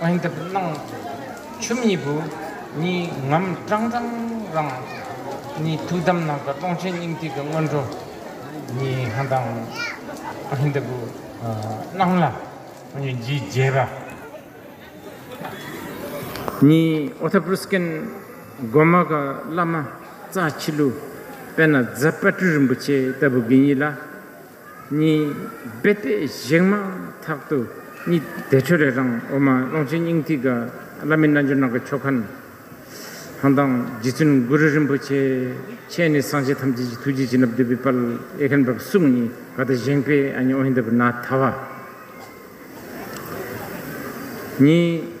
གང་འདིར་སྣང་ཆུ་མིག་བུ། གཉིས་ངམ་སྐྲངས་སྐྲངས་རང། གཉིས་ཐུགས་དམ་ནང་དཀར་སྟོང་ཆེན་སྙིང་ཐིག་གི་སྔོན་འགྲོ། གཉིས་ཧང་དང། གང་འདིར་བུ། སྣང་ལ། གཉིས་འཇིགས་བརྒྱད་པ། གཉིས་ཨོ་ཐ་པུར་སྐན། སྒོ་མ་ག་བླ་མ། རྩ་ཕྱི་ལུས། པད་ན་ཛཔ྄་སྤྲུལ་རིན་པོ་ཆེ་ལྟ་བུ་དགེ་གཉིས་ལ། གཉིས། རྦད་ལྟས་བཞེངས་མ་ཐག་ཏུ་གཉིས། བདེ་ཆོས་རེ་རང་འོ་མ་ཀློང་ཆེན་སྙིང་ཐིག་གི། བླ་མེད་རྣལ་འབྱོར་ནང་གི་ཆོ་ག། ཧཱུྃ་དང་རྗེ་བཙུན་གུ་རུ་རིན་པོ་ཆེ་མཆེད་ནས་སངས་རྒྱས་ཐམས་ཅད་ཀྱི་ཐུགས་རྗེས་བྱིན་རླབས་བསྡུས་པའི་དཔལ། ཨེ་ཁཱན་བབས་གསུམ་གཉིས་ག་དུ་བཞེངས་པས་ཨ་མྱེས་ཨོ་ཧེ་འདི་བུ་ནཱ་ཐ་བ། གཉིས།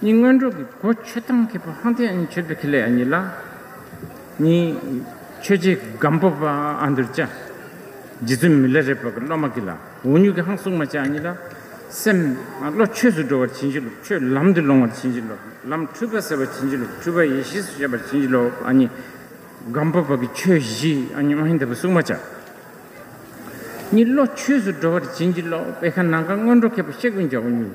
གཉིས་སྔོན་འགྲོ་གི་སྒོ་ཆོས་ཐམས་མཁས་པ་ཧང་ཐའི་ཨན་ཆོས་འཕེལ་ཁེ་ལས་ཨ་ཉི་ལགས། གཉིས། ཆོས་རྗེ་སྒམ་པོ་པ་ཨ་འདུལ་བཅའ། རྗེ་བཙུན་མི་ལ་རས་པ་གི་སློབ་མ་ཀི་ལ་འུ་ཉུག་གི་ཧང་སུག་མ་བཅའ་ཨ་ཉི་ལགས། སེམས། བློ་ཆོས་སུ་འགྲོ་བར་བྱིན་གྱིས་རློབས་ཆོས་ལམ་དུ་ལོང་བར་བྱིན་གྱིས་རློབས་ལམ་འཁྲུལ་པ་སེལ་བར་བྱིན་གྱིས་རློབས་འཁྲུལ་པ་ཡེ་ཤེས་སུ་ཤེས་པར་བྱིན་གྱིས་རློབས་ཨ་ཉི། སྒམ་པོ་པ་གི་ཆོས་བཞི་ཨ་ཉི་མ་ཧིན་དྷ་པ་སུག་མ་བཅའ། གཉིས་བློ་ཆོས་སུ་འགྲོ་བར་བྱིན་གྱིས་རློབས་ཨེ་ཁ་ནང་ཁ་སྔོན་འགྲོ་མཁས་པ་གཤེགས་དབེན་བཅའ་འུ་ཉུག།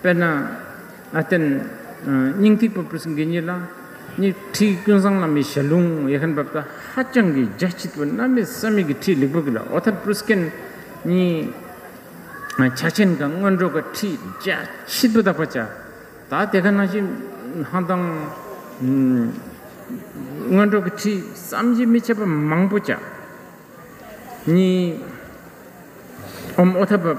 དཔེར་ན། ཨ་ཏན། སྙིང་ཐིག་པ་པུས་འགན་གཉིས་ལ། གཉིས་ཁྲིའི་ཀུན་བཟང་བླ་མའི་ཞལ་ལུང་ཡེ་ཤེས་འབབ་དང་ཧ་ཅང་གི་རྒྱ་ཆེ་དུས་བླ་མའི་ས་མིག་གི་ཁྲིད་ལེགས་པོ་གི་ལ་ཨོ་ཐར་པུས་འགན་གཉིས། ཆ་ཆེན་གང་སྔོན་འགྲོ་གི་ཁྲིད་རྒྱ་ཆེ་དུ་དག་པ་བྱ། ད་དེ་ག་ནང་བཞིན་ཧང་དང། སྔོན་འགྲོ་གི་ཁྲིད་བསམ་གྱིས་མི་ཁྱབ་པ་མང་པོ་བྱ། གཉིས། ཨོམ་ཨོ་ཐར་བབ།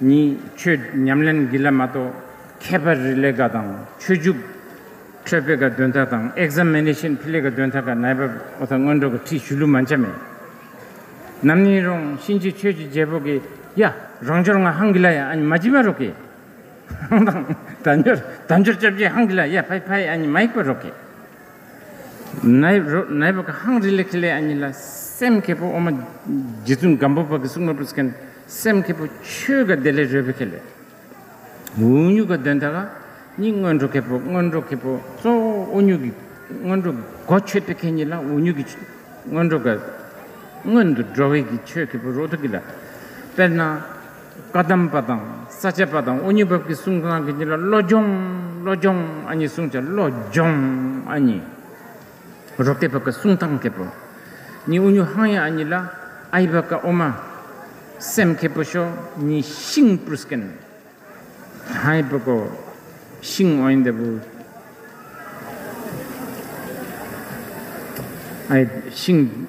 གཉིས། ཆོས་ཉམས་ལེན་བགྱིད་ལས་མ་གཏོགས་ཁྱད་པར་རི་ལས་ཀ་དང་ཆོས་འཇུག། འཕྲོས་སྤེལ་ཀ་འདོན་ཐ་དང Examination ཕི་ལེ་ཀ་འདོན་ཐ་ཀ་ནའི་བབ་འོ་ཐ་སྔོན་འགྲོ་ཀ་ཁྲིད་ཞུ་ལུ་མ་འཆ་མེད། ནམ་ནིང་རོང་གཤིན་རྗེ་ཆོས་ཀྱི་རྒྱལ་པོ་ཀི་ཡ། རང་འབྱོར་ང་ཧང་གི་ལ་ཡ་ཨ་ཉི་མ་ཇི་མ་རོ་ཀི། ཧང་དང། ད་འབྱོར་ད་འབྱོར་ཅབ་ཅེ་ཧང་གི་ལ་ཡ་ཕ་ཡི་ཕ་ཡི་ཨ་ཉི་མ་ཡིག་པ་རོ་ཀི། ནའི་རོ་ནའི་བབ་ཀ་ཧང་རི་ལེ་ཁི་ལའི་ཨ་ཉི་ལ་སེམས་ཁེ་པོ་ཨོ་མ། རྗེ་བཙུན་སྒམ་པོ་པ་ཀི་སུག་མ་པུ་སི་ཀན། སེམས་མཁས་པོ་ཆོས་དགའ་བདེ་ལས་རོལ་པོ་མཁས་ལས། འུ་གཉུག་ག་དོན་དག་གཉིས་སྔོན་འགྲོ་མཁས་པོ་སྔོན་འགྲོ་མཁས་པོ་གཙོ་བོ་འུ་གཉུག་གི་སྔོན་འགྲོ་གོ་ཆོད་པའི་མཁས་གཉིས་ལ་འུ་གཉུག་གི་སྔོན་འགྲོ་དགའ། སྔོན་དུ་འགྲོ་བས་ཀྱི་ཆོས་མཁས་པོ་རོ་ཐུག་གི་ལ། དཔེར་ན། བཀའ་གདམས་པ་དང་ས་བཅད་པ་དང་འུ་གཉིས་བབས་ཀྱི་གསུང་གང་གི་གཉིས་ལ་བློ་སྦྱོང་བློ་སྦྱོང་ཨ་གཉིས་གསུང་བྱ་བློ་སྦྱོང་ཨ་གཉིས། རོ་སྐད་བ་ཀ་སུང་ཐང་ཁེ་པོ། གཉིས་ཨུ་ཉུ་ཧང་ཡ་ཨ་གཉིས་ལ་ཨའི་བ་ཀ་ཨོ་མ། སེམས་ཁེ་པོ་ཤོ་གཉིས་ཤིང་པུར་སྐན། ཧའི་བ་ཀོ། ཤིང་ཨོའི་འདེ་བུ། ཨའི་ཤིང།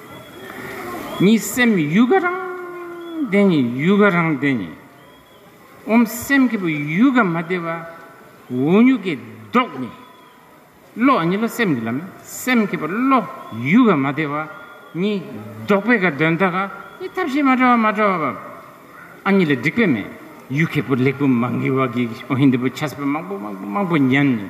གཉིས་སེམས་ཡུལ་ག་རང་བདེ་ནི་ཡུལ་ག་རང་བདེ་ནི། འོམ་སེམས་ཀྱི་བུ་ཡུལ་ག་མ་བདེ་བ་འོ་མྱུག་གི་མདོག་ནི། བློ་གཉིས་བློ་སེམས་ཀྱི་ལམ་སེམས་ཀྱི་བུ་བློ་ཡུལ་ག་མ་བདེ་བ་གཉིས་བཟློག་པའི་ག་དོན་དག་ག་ནི་ཐབས་ཤེས་མ་བྲལ་བ་མ་བྲལ་བ་བ། ཨ་གཉིས་ལ་སྒྲིག་པའི་མེ་ཡུལ་གྱི་བུ་ལེགས་པོ་མ་འགིལ་བ་གིས་འོ་ཧིན་དི་བུ་ཆ་སེ་བ་མང་པོ་མང་པོ་མང་པོ་ཉམས་ནི།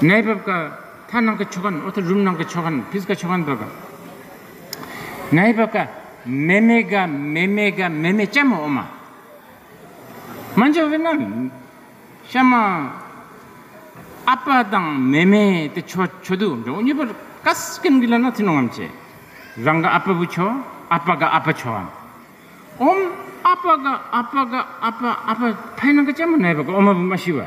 གནས་བབ་ཀ་ཐ་ནང་གི་ཆོ་ག་ནི་ཨོ་ཐ་རུམ་ནང་གི་ཆོ་ག་ནི་ཕིས་ཀ་ཆོ་ག་འདོད་པ། གནས་བབ་ཀ་མེ་མེ་ག་མེ་མེ་ག་མེ་མེ་ལྕེ་མོ་ཨོ་མ། མ་འཇོ་བས་ན་ཤ་མ། ཨ་པ་དང་མེ་མེ་དེ་ཆོ་ཆོ་དུ་འགྲོ་གཉིས་པར་ཀ་སི་ཀན་གི་ལ་ན་ཐི་ནོ་ངམ་ཅེ། རང་ག་ཨ་པ་བུ་ཆོ་ཨ་པ་ག་ཨ་པ་ཆོ་ཨམ། ཨོམ་ཨ་པ་ག་ཨ་པ་ག་ཨ་པ་ཨ་པ་ཕའི་ནང་གི་ལྕེ་མོ་གནས་བབ་ཀ་ཨོ་མ་བུ་མ་ཤི་བ།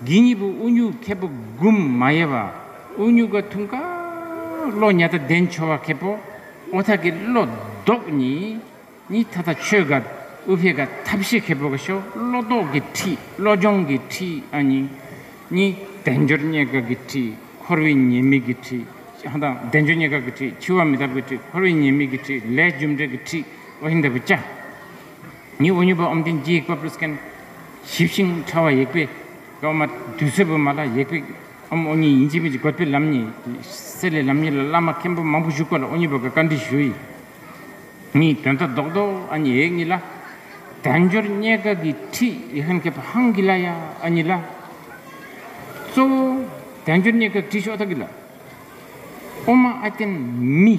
འདི་གཉིས་པོ་ཨུ་ཉུག་མཁས་པོ་འགུམ་མ་ཡེ་བ་ཨུ་ཉུག་ག་ཐུང་ཀ། བློ་ཉ་ད་ལྡན་ཆོ་བ་མཁས་པོ་ཨོ་ཐ་ཀི་བློ་ལྡོག་གཉིས། གཉིས་ཐ་ཐ་ཆོས་ག་ཨུ་བྷེ་ག་ཐབས་ཤེས་མཁས་པོ་ག་ཤོ་བློ་ལྡོག་གི་ཁྲིད་བློ་སྦྱོང་གི་ཁྲིད་ཨ་གཉིས། གཉིས་བདེན་འབྱོར་རྙེད་དཀའ་གི་ཁྲིད་འཁོར་བའི་ཉེས་དམིགས་གི་ཁྲིད་ཧ་དང་བདེན་འབྱོར་རྙེད་དཀའ་གི་ཁྲིད་འཆི་བ་མི་རྟག་པའི་ཁྲིད་འཁོར་བའི་ཉེས་དམིགས་གི་ཁྲིད་ལས་རྒྱུ་འབྲས་ཀྱི་ཁྲིད་ཨོ་ཧིན་དཱ་བུ་ཅཱ། ཉི་འོད་མྱུར་བ་འོམ་ལྡན་རྒྱས་བཀབ་ཀླུ་སྐན། ཞིབ་ཤིང་ཕྲ་བ་ཡེག་པའི་ཀློག་མ། དུས་ཚོད་བུ་མ་ལ་ཡེག་པའི་འོམ་ཨོ་ཉི་ཡིན་སྤྱི་མེས་ཀྱི་དགོས་པའི་ལམ་གཉིས་ཀྱི་གསེར་ལས་ལམ་གཉིས་ལ་བླ་མ་མཁན་པོ་མང་པོ་བཞུགས་པ་ལ་ཨོ་ཉི་བ་ག་བཀའ་འདྲི་ཞུ་ཡི། གཉིས་དོན་ཐ་དོག་དོག་ཨ་ཉི་ཡེག་གཉིས་ལ། དལ་འབྱོར་རྙེད་དཀའ་གི་ཁྲི་ཡི་ཧན་ཁེ་པ་ཧང་གི་ལ་ཡ་ཨ་ཉི་ལ། གཙོ་བོ་དལ་འབྱོར་རྙེད་དཀའ་ཁྲི་ཤོག་ཐ་གི་ལ། ཨོ་མ་ཨ་ཏན་མི།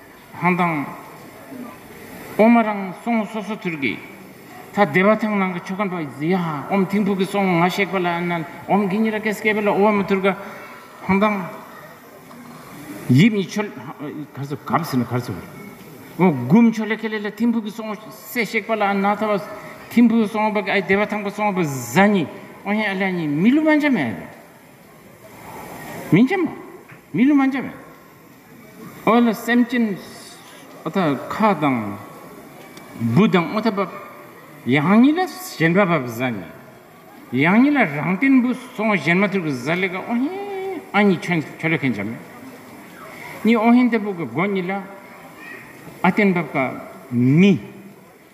ཧང་དང། ཨོ་མ་རང་སོང་སོ་སོ་ཐུར་གི། ད་སྡེ་བ་ཐང་ནང་གི་ཆོ་ག་འགྲོ་ཨི་ཟི་ཡ། ཨོམ་ཐིང་ཕུག་གི་སོང་ང་གཤེགས་པ་ལ་ཨན་ནན་ཨོམ་གི་ཉི་ར་ཀས་སྐད་པ་ལ་ཨོ་མ་ཐུར་ག། ཧང་དང། ཡིབ་ཉི་ཆོ། གར་སོ་གབ་སི་ན་གར་སོ་བར། ཨོ་གུམ་ཆོ་ལེ་ཁེ་ལེ་ལ་ཐིང་ཕུག་གི་སོང་སེ་གཤེགས་པ་ལ་ཨན་ན་ཐ་བ། ཐིང་ཕུག་གི་སོང་བ་གི་ཨའི་སྡེ་བ་ཐང་པ་སོང་བ་བཟའ་ཉི་ཨོ་ཧེ་ཨ་ལེ་ཨ་ཉི་མི་ལུ་མ་འཇམ་མེ། མི་འཇམ་མ། མི་ལུ་མ་འཇམ་མེ། ཨོ་ལ་སེམས་ཅན་ཁ་དང། བུ་དང་ཨོ་ཐ་བབ། ཡང་ཉིད་ལ་གཞན་པ་བབ་གཟའ་ནི། ཡང་ཉིད་ལ་རང་བརྟེན་བུ་སོང་གཞན་མ་ཐུར་གི་གཟའ་ལེ་ག་ཨོ་ཧེ་ཨ་ཉིད་ཁྱོད་ཁྱོད་ལ་ཁེན་ཅམ་མེ། ཉིད་ཨོ་ཧེ་འདེ་བུ་གི་སྒོ་ཉིད་ལ་ཨ་བརྟེན་བབ་ག་མི།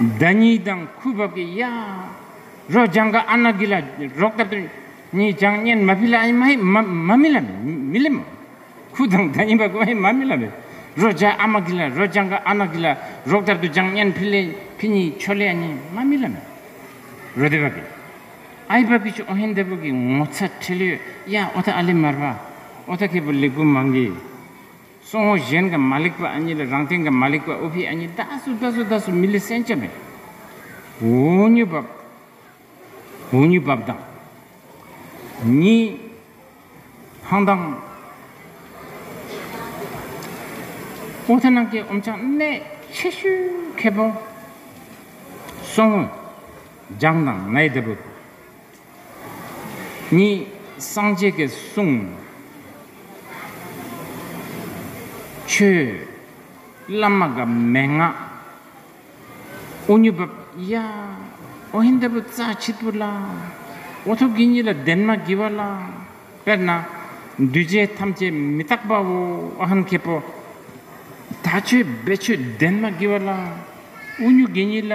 བདག་ཉིད་དང་ཁུ་བབ་ཀྱི་གཡག། རོ་ལྗང་ག་ཨ་ན་གི་ལ། རོག་ཏབ་ཏུ་ཉི་ལྗང་སྙན་མ་བྷི་ལ་ཨི་མ་མ་མི་ལ་མི་ལི་མ། ཁུ་དང་ད་ཉི་བ་ཀུ་ཨི་མ་མི་ལ་བི། རོ་ལྗང་ཨ་མ་གི་ལ་རོ་ལྗང་ག་ཨ་ན་གི་ལ། རོག་ཏབ་ཏུ་ལྗང་སྙན་བྷི་ལེ་བྷི་ཉི་ཆོ་ལེ་ཨ་ཉི་མ་མི་ལ་མི། རོ་དེ་བ་གི། ཨའི་བ་གི་ཆུ་ཨོ་ཧན་དེ་བུ་གི་ངོ་ཚ་ཁྲེ་ལུའི་གཡག་ཨོ་ཐ་ཨ་ལི་མར་བ། ཨོ་ཐ་ཁེ་བུ་ལི་གུ་མང་གི། སོ་ཧོ་གཞན་གི་མ་ལེགས་པ་ཨ་ཉི་ལ་རང་སྟེང་གི་མ་ལེགས་པ་ཨུ་བྷི་ཨ་ཉི་ད་སུ་ད་སུ་ད་སུ་མི་ལི་སན་ཅཱ་མེ་ཝུ་ཉུ་བབ་ཝུ་ཉུ་བབ་དང་ཉི་ཧང་དང་ཨོ་ཐ་ནང་གི་འོམ་ཆང་གནད་ཆེ་ཤོས་ཁེ་པོ་སོ་ཧོ་ལྗང་དང་ནའི་ལྡི་བུ། གཉིས། སངས་རྒྱས་ཀྱི་གསུང། ཆོས། བླ་མ་གི་མན་ངག། ཨོ་ཉི་བབ། ཡ། ཨོ་ཧེ་འདི་བུ་རྩ་ཆིག་པུ་ལ། ཨོ་ཐུགས་ཀྱི་གཉིས་ལ་ལྡན་མ་བགྱི་བ་ལ། དཔེར་ན། འདུས་བྱས་ཐམས་ཅད་མི་རྟག་པའོ་ཨ་ཧན་ཁེ་པོ། ད་ཆོས་སྦས་ཆོས་ལྡན་མ་བགྱི་བ་ལ། ཨོ་སྨྱུག་གི་གཉིས་ལ།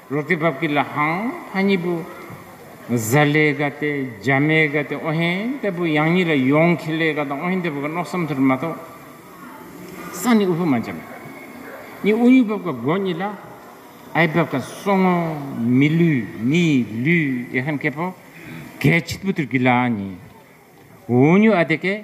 རོ་ཏི་བབ་ཀི་ལ་ཧང་ཧ་གཉིས་པོ། བཟའ་ལེ་ག་ཏེ་རྒྱ་མེ་ག་ཏེ་ཨོ་ཧེན་ཏེ་པོ་ཡང་གཉིས་ལ་ཡོང་ཁི་ལེ་ག་དང་ཨོ་ཧེན་ཏེ་པོ་ག་ནོག་སམ་ཐུར་མ་གཏོགས། ས་ནི་ཨུ་ཕུ་མ་འཇམ། གཉིས་ཨུ་གཉིས་བབ་ཀ་སྒོ་གཉིས་ལ། ཨའི་བབ་ཀ་སོ་ངོ། མི་ལུས་མི་ལུས་ཡེ་ཧན་ཀེ་པོ། གའི་ཕྱིད་པོ་ཐུར་གི་ལ་གཉིས། ཨོ་ཉུ་ཨ་ཏེ་ཀེ།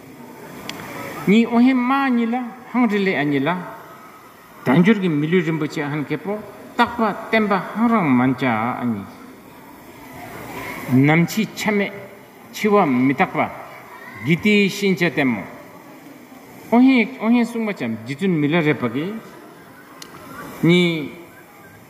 གཉིས་ཨོ་ཧེ་མ་ཨ་ཉི་ལ་ཧང་རི་ལེ་ཨ་ཉི་ལ། དལ་འབྱོར་གྱི་མི་ལུས་རིན་པོ་ཆེ་ཧན་ཁེ་པོ་སྟག་པ་བསྟན་པ་ཧང་རང་མཱན་ཅཱ་ཨ་ཉི། ནམ་འཆི་ཆ་མེད་འཆི་བ་མི་རྟག་པ། གི་ཏི་ཤིན་ཅཱ་ཏན་མོ། ཨོ་ཧེ་ཨོ་ཧེ་སྲུང་མ་ཅཱ་འཇི་ཙུན་མི་ལ་རེ་བ་གི། གཉིས།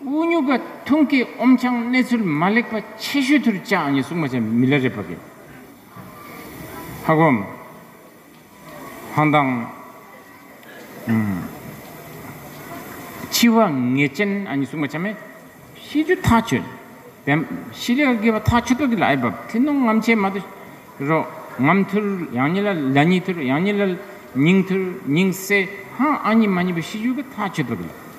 དབུགས་ཉུག་པ་ཐུང་སྐད་ཨོམ་ཆང་གནས་ཚུལ་མ་ལེགས་པ་ཆེ་ཤོས་ཐུར་བཅག་ཨང་ཡིན་གསུང་མ་བྱས་མི་ལ་རེ་བབ་ཡིན། ཧ་སྒོམ། ཧང་ཐང། འཆི་བ་ངེས་ཅན་ཨང་ཡིན་གསུང་མ་བྱས་མེད། ཤི་རྒྱུ་ཐག་ཆོད། བེམ། ཤི་ལེ་བརྒལ་བ་ཐག་ཆོད་ཐོག་གི་ལ་ཨེ་བབ་ཐི་ནོ་ངམ་ཆེ་མ་ཐི་རོ། ངམ་ཐུར་ཡང་ཉི་ལ་ལ་ཉི་ཐུར་ཡང་ཉི་ལ་ལ་ཉིང་ཐུར་ཉིང་སེ་ཧང་ཨང་ཉི་མ་ཉི་བ་ཤི་རྒྱུ་གི་ཐག་ཆོད་ཐོག་གི་ལ།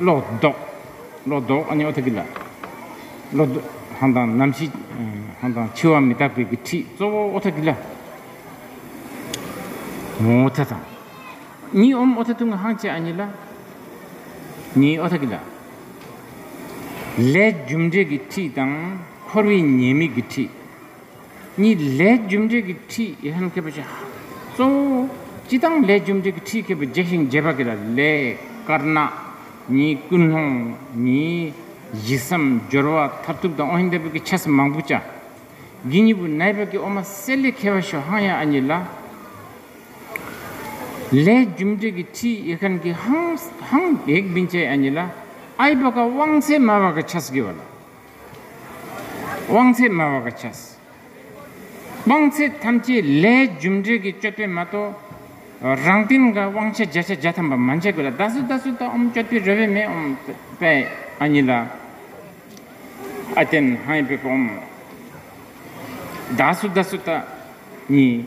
ལོག་རྟོག། ལོག་རྟོག་ཨ་ནི་ཨོ་ཐ་ཀི་ལ། ལོག་རྟོག། ཧང་དང་རྣམ་ཤེས། ཧང་དང་འཆི་བ་མི་རྟག་པའི་ཁྲིད་གཙོ་བོ་ཨོ་ཐ་ཀི་ལ། ངོ་བོ་ཐ་དང། གཉིས་ཨོམ་ཨོ་ཐ་ཐུང་ངུ་ཧང་བཅས་ཨ་ནི་ལ། ནི་ཨོ་ཐ་ཀི་ལ། ལས་རྒྱུ་འབྲས་ཀྱི་ཁྲིད་དང་འཁོར་བའི་ཉེས་དམིགས་ཀྱི་ཁྲིད། གཉིས། ལས་རྒྱུ་འབྲས་ཀྱི་ཁྲིད་ཡིག་ལྷན་སྐྱེས་པ་བྱ། གཙོ་བོ། སྤྱི་དང་ལས་རྒྱུ་འབྲས་ཀྱི་ཁྲིད་མཁས་པའི་རྗེ་ཞིང་རྒྱས་པ་ཀི་ལ་ལས། དཀར་ནག། གཉིས། ཀུན་སློང། གཉིས། གཞི་བསམ། སྦྱོར་བ། མཐར་ཐུག་དང་ཨོ་ཧིན་དཱ་བུད་ཀྱི་ཆ་ས་མང་པོ་བྱ། གི་གཉིས་པོ་ནའི་བར་གྱི་ཨོ་མ་སེ་ལས་མཁས་པ་ཤོ་ཧང་ཡ་ཨ་གཉིས་ལ། ལས་རྒྱུ་འབྲས་ཀྱི་ཁྲིད་ཡིག་ཧན་གི་ཧང། ཧང། ཡེག་བིན་ཅའི་ཨ་གཉིས་ལ། ཨའི་བ་ཀ་དབང་ཚད་མ་བ་ཀ་ཆ་ས་ཀི་བ་ལ། དབང་ཚད་དམའ་བ་ག་ཆ། དབང་ཚད་ཐམས་ཅད་ལྷའི་རྒྱུ་འབྲས་ཀྱི་སྤྱོད་པས་མ་གཏོགས། རང་སྟེང་གི་དབང་ཆ་བརྒྱ་ཆ་བརྒྱ་ཐམ་པ་མ་འཇལ་དགོས་ལ་བདག་སུ་བདག་སུ་དག་འོམ་སྤྱོད་པའི་རེ་བས་མེ་འོམ་པའི་ཨ་ཉི་ལ་ཨ་ཏན་ཧའི་བུ་ག་འོམ། བདག་སུ་བདག་སུ་དག་ཉིད།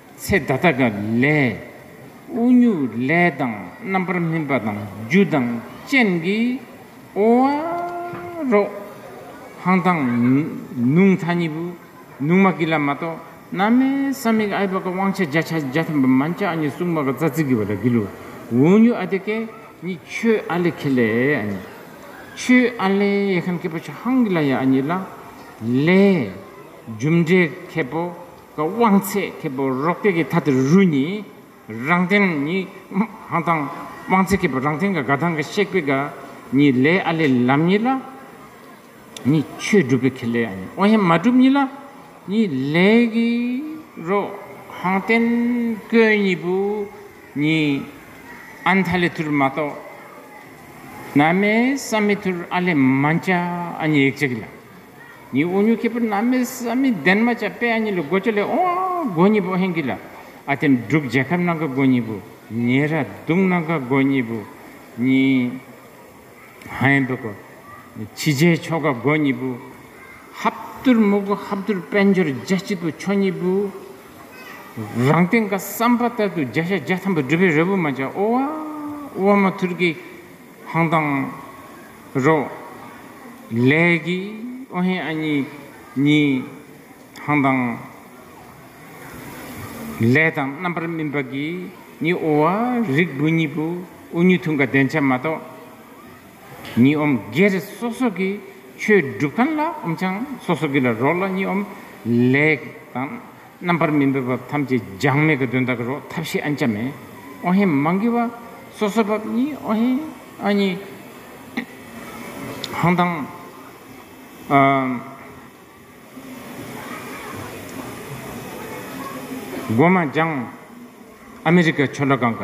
ཚེ་ད་ལྟ་ག་ལས། དབུགས་ཉུག་ལས་དང་རྣམ་པར་སྨིན་པ་དང་རྒྱུ་དང་རྐྱེན་གྱིས་ཨོ་ཨ་རོ། ཧང་ཐང། ནུང་མཐའ་གཉིས་པོ། ནུང་མ་ཀི་ལ་མ་གཏོགས་ན་མའི་ས་མིག་ཨའི་བ་ཀ་དབང་ཆ་བརྒྱ་ཆ་བརྒྱ་ཐམ་པ་མན་ཅག་གཉིས་སྲུང་མ་ཀ་ཙ་ཙི་གི་བ་ལ་གི་ལུ་འོ་ཉུ་ཨ་དེ་ཀའི་གཉིས་ཁྱོད་ཨ་ལེ་ཁེ་ལེ་ཨ་ནི། ཁྱོད་ཨ་ལེ་ཡེ་ཁན་ཀེ་པོ་ཆ་ཧང་གི་ལ་ཡ་ཨ་ནི་ལ། ལས། རྒྱུ་འབྲས་ཁེ་པོ་དབང་ཚད་མཁས་པོ་རོག་པའི་གི་ཐ་དེ་རུ་ནི་རང་བསྟན་ནི་ཧང་ཐང། དབང་ཚད་མཁས་པོ་རང་བསྟན་གི་དགའ་ཐང་གི་གཤེགས་པའི་གི་ནི་ལས་ཨ་ལས་ལམ་གཉིས་ལ་ནི་ཆོས་སྒྲུབ་པའི་གི་ལས་ཨ་ནི་དབང་ཡན་མ་གྲུབ་གཉིས་ལ་ནི་ལས་གི་རོ་ཧང་བསྟན་ཀོས་གཉིས་པོ་ནི་ཨན་ཐ་ལས་ཐུར་མ་གཏོགས་ན་མེད་བསམ་མེད་ཐུར་ཨ་ལས་མ་འཆ་ཨ་ནི་ཡིག་ཆ་གི་ལ། ཉི་དབོ་ཉུ་ཁེ་པོ་ན་མེ་ས་མི་ལྡན་མ་ཅཱ་པེ་ཨ་ཉི་ལི་སྒོ་ཅཱ་ལེ་ཨོ་སྒོ་ཉི་པོ་ཧེང་གི་ལ་ཨ་ཏེ་འབྲུག་རྒྱལ་ཁབ་ནང་གི་སྒོ་ཉི་པོ་ཉེ་ར་སྡུག་ནང་གི་སྒོ་ཉི་པོ་ཉི་ཧན་པི་ཀོ་ཆི་རྗེ་ཆོ་ག་སྒོ་ཉི་པོ་ཧབ་ཏུར་མུ་གུ་ཧབ་ཏུར་དཔལ་འབྱོར་རྒྱ་སྐྱིད་པོ་ཆོ་ཉི་པོ་རང་སྟེང་གི་བསམ་པ་ལྟར་དུ་རྒྱ་ཤ་རྒྱ་ཐམ་པོ་སྒྲུབ་པའི་རེ་བོ་མ་ཅཱ་ཨོ་ཨོ་མ་ཐུར་གི། ཧང་ཐང། རོགས། ལས། ཀྱི་ཨོ་ཧེ་ཨ་ཉི། གཉིས། ཧང་ཐང། ལས་དང་རྣམ་པར་སྨིན་པ། གི་ནི་ཨོ་བ། རིགས་བུ་གཉིས་པོ། ཨོ་ཉུ་ཐུང་ག་བདེན་ཆ་མ་གཏོགས། གཉིས་ཨོམ། སྒེར་སོ་སོ་གི་ཆོས་སྒྲུབ་ཐང་ལ་ཨོམ་ཆང་སོ་སོ་གི་ལ་རོགས་ལ་གཉིས་ཨོམ། ལས། དང། རྣམ་པར་སྨིན་པའི་བབས་ཐམས་ཅད་འགྱངས་མེད་ཀྱི་དོན་དག་གི་རོགས་ཐབས་ཤིག་ཨན་ཅམ་མེད། ཨོ་ཧེ་མ་འགི་བ། སོ་སོའི་བབས་གཉིས་ཨོ་ཧེ། ཨ་ཉི། ཧང་ཐང། སྒོ་མ་འགྱངས། ཨ་མི་རི་ཀ་ཆོལ་ཁ་གང་ག།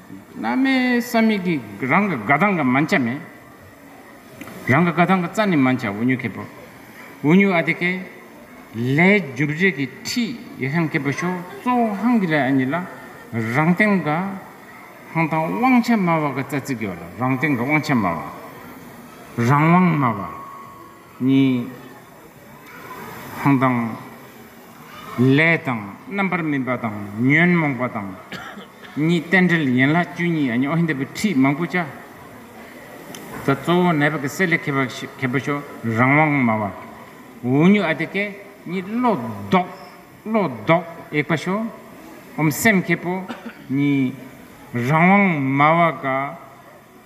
བླ་མའི་ས་མིག་གིས་རང་གི་དགའ་སྡང་གི་མ་འཆའ་མེད། རང་གི་དགའ་སྡང་གི་རྩ་ནས་མ་འཆའ་འུ་ཉུ་ཁེ་པོ། འུ་ཉུ་ཨ་དེ་ཀེ། ལས་རྒྱུ་རྗེས་ཀྱི་ཁྲིད་ཡི་ཧན་ཀེ་པོ་ཤོ་གཙོ་བོ་ཧང་གི་ལས་ཨ་ཉི་ལ་རང་སྟེང་དགའ། ཧང་དང་དབང་ཆ་དམའ་བ་གི་རྩ་ཚིག་ཡོད་ལ་རང་སྟེང་གི་དབང་ཆ་དམའ་བ། རང་དབང་དམའ་བ། གཉིས། ཧང་དང། ལས་དང་རྣམ་པར་སྨིན་པ་དང་ཉོན་མོངས་པ་དང་གཉིས་རྟེན་འབྲེལ་ཡན་ལག་བཅུ་གཉིས་ཨ་ཉི་ཨོ་ཧི་འདི་པའི་ཁྲིད་མང་པོ་བཅའ། ད་གཙོ་བོ་ནད་པ་གི་སེལ་ལས་མཁས་པ་མཁས་པ་ཤོ་རང་དབང་སྨྲ་བ། འུ་ཉུག་ཨ་དེ་ཀས་གཉིས་བློ་ལྡོག་བློ་ལྡོག་ཨེག་པ་ཤོ་འམ་སེམས་མཁས་པོ་གཉིས་རང་དབང་སྨྲ་བ་ཀ།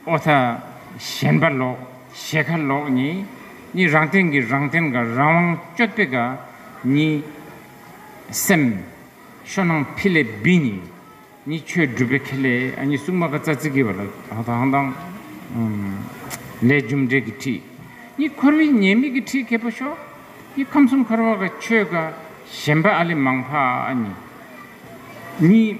ཨོ་ཐ། ཞེན་པ་ལོག། ཞེ་ཁ་ལོག་ནི། གཉིས་རང་སྟེང་གི་རང་སྟེང་ག་རང་དབང་སྤྱོད་པའི་ག། གཉིས། སེམས། ཤོ་ནང་ཕི་ལེ་བི་ནི། གཉིས་ཆོས་སྒྲུབ་པའི་ཁེ་ལས་ཨ་གཉིས་སྲུང་མ་ག་ཙ་ཙི་གི་བ་ལ་ཧ་ཐ་ཧང་ཐང། ལས་རྒྱུ་འབྲས་ཀི་ཁྲི། གཉིས་འཁོར་བའི་ཉེས་དམིགས་ཀི་ཁྲི་ཁེ་པོ་ཤོ། གཉིས་ཁམས་གསུམ་འཁོར་བ་ག་ཆོས་ག། ཞེན་པ་ཨ་ལི་མང་ཕ་ཨ་ནི། གཉིས།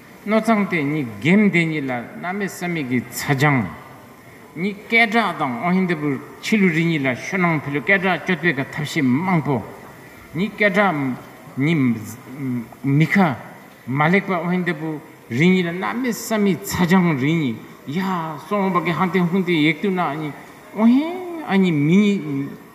སྣོད་གཙང་དེ་ཉིད་སྒེམ་དེ་ཉིད་ལ་རྣམ་མེད་ས་མིག་གི་ཚ་སྦྱང། གཉིས་སྐད་སྒྲགས་དང་ཨོ་ཧི་འདི་པུ་ཆི་ལུ་རི་གཉིས་ལ་ཤོ་ནང་ཕི་ལུ་སྐད་སྒྲགས་སྐྱོ་དཔེ་ག་ཐབས་ཤེས་དམངས་པོ། གཉིས་སྐད་སྒྲགས་ཉིས། མི་ཁ། མ་ལེགས་པ་ཨོ་ཧི་འདི་པུ་རི་གཉིས་ལ་རྣམ་མེད་ས་མིག་ཚ་སྦྱང་རི་གཉིས་ཡ། སོང་བ་གི་ཧ་ཏེ་ཧུན་ཏེ་ཡེག་ཏུ་ན་གཉིས་ཨོ་ཧེ་ཨ་གཉིས་མི་གཉིས།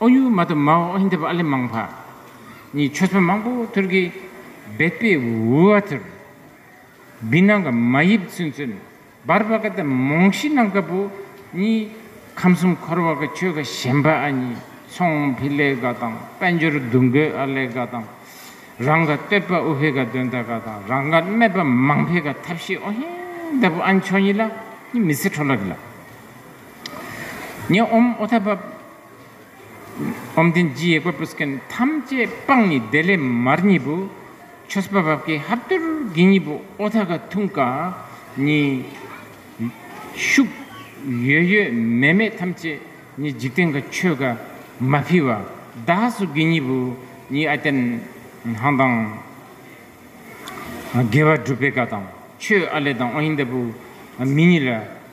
ཨོ་ཡུ་མ་ཏུ་མ་ཨོ་ཧིན་དེ་པ་ཨ་ལི་མང་བྷ་གཉིས་ཆོས་ཚོན་མང་པོ་ཐུར་གི་བེད་པའི་ཝུ་བ་ཐུར་བི་ནང་གི་མ་ཡིབ་ཚུན་ཚུན་བར་བ་ཀ་ཏི་མོང་ཤི་ནང་ཀ་པུ་གཉིས་ཁམས་གསུམ་འཁོར་བ་ཀ་ཆོས་ཀ་ཞེན་པ་ཨ་གཉིས་ཚོང་བྷི་ལེ་ཀ་དང་དཔལ་འབྱོར་བསྡུ་འགོད་ཨ་ལེ་ཀ་དང་རང་ཀ་སྟོད་པ་ཨུ་བྷེ་ཀ་དོན་ད་ཀ་དང་རང་ཀ་སྨད་པ་མང་བྷེ་ཀ་ཐབས་ཤེས་ཨོ་ཧིན་དེ་པུ་ཨན་ཆོས་གཉིས་ལ་གཉིས་མི་ཚེ་འཕྲོ་ལ་རི་ལ་ཉེ་ཨོམ་ཨོ་ཐ་བ། བཅོམ་ལྡན་རྒྱུད་ཡེ་ཀོ་པུས་ཀན་ཐམས་ཅད་སྤངས་ནི་བདེ་ལེགས་མར་གཉིས་པོ། ཆོས་སྤ་བབས་ཀྱི་ཧབ་དུར་གྱི་གཉིས་པོ་ཨོ་ཐ་ཀ་ཐུང་ཀ་ནི། ཤུགས། ཡོད་ཡོད་མེད་མེད་ཐམས་ཅད་ནི་འཇིག་རྟེན་གྱི་ཆོས་ཀ་མ་འཕེལ་བ་བདག་སོགས་ཀྱི་གཉིས་པོ་ནི་ཨ་ཏན་ཧང་དང། དགེ་བ་སྒྲུབ་པའི་ཀ་དང་ཆོས་ཨ་ལས་དང་ཨོ་ཧིན་དཱ་བུ་མི་གཉིས་ལ།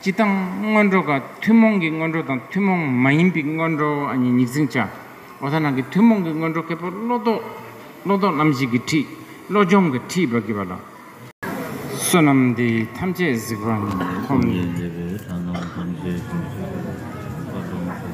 སྤྱི་དང། སྔོན་འགྲོ་ཀ། ཐུན་མོང་གི་སྔོན་འགྲོ་དང་ཐུན་མོང་མ་ཡིན་པའི་སྔོན་འགྲོ་གཉིས་ཉིག་འཛིན་བྱ། འོ་ད་ནང་གི་ཐུན་མོང་གི་སྔོན་འགྲོ་ཀེ་པོ་བློ་ལྡོག། བློ་ལྡོག་རྣམ་བཞི་གི་ཁྲིད། བློ་སྦྱོང་གི་ཁྲིད་བགྱི་བ་ལ། བསོད་ནམས་དེ་ཐམས་ཅད་གཟིགས་པ་ནི། ཐུགས་ཡིད་མཛེས་པའི་ལྷ་སྣང་ཐམས་ཅད་བྱིན་གྱིས་བརླབས།